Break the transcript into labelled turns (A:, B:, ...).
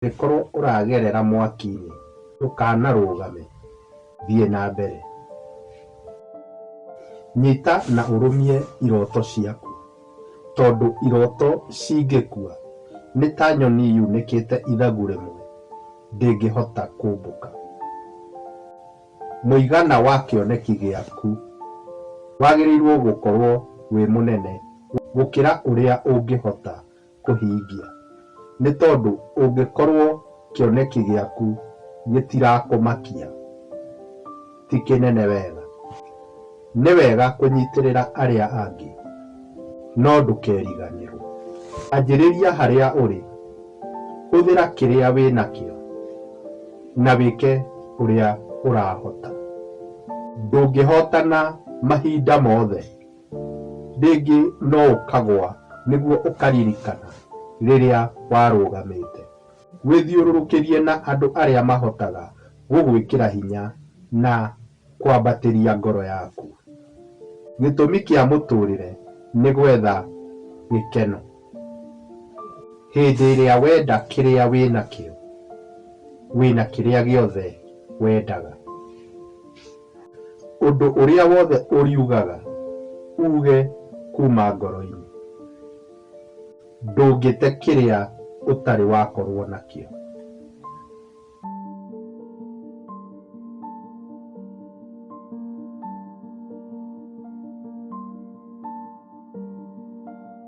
A: Angĩkorwo ũragerera mwaki-inĩ, ndũkanarũgame, thiĩ na mbere. Nyita na ũrũmie iroto ciaku, tondũ iroto cingĩkua, nĩ ta nyoni yunĩkĩte ithagu rĩmwe, ndĩngĩhota kũmbũka. Mũigana wa kĩoneki gĩaku wagĩrĩirũo gũkorũo wĩ mũnene gũkĩra ũrĩa ũngĩhota kũhingia. Nĩ tondũ ũngĩkorũo kĩoneki gĩaku gĩtirakũmakia ti kĩnene wega, nĩ wega kũnyitĩrĩra arĩa angĩ. No ndũkeriganĩrũo. Anjĩrĩria harĩa ũrĩ, hũthĩra kĩrĩa wĩ nakĩo, na wĩke ũrĩa ũrahota. Ndũngĩhotana mahinda mothe. Rĩngĩ no ũkagũa nĩguo ũkaririkana rĩrĩa warũgamĩte. Wĩthiũrũrũkĩrie na andũ arĩa mahotaga gũgwĩkĩra hinya na kwambatĩria ngoro yaku. Gĩtũmi kĩa mũtũũrĩre nĩ gwetha gĩkeno. Hĩndĩ ĩrĩa wenda kĩrĩa wĩ nakĩo, wĩ na kĩrĩa gĩothe wendaga. Ũndũ ũrĩa wothe ũriugaga uuge kuuma ngoro-inĩ. Ndũngĩte kĩrĩa ũtarĩ wakorũo nakĩo.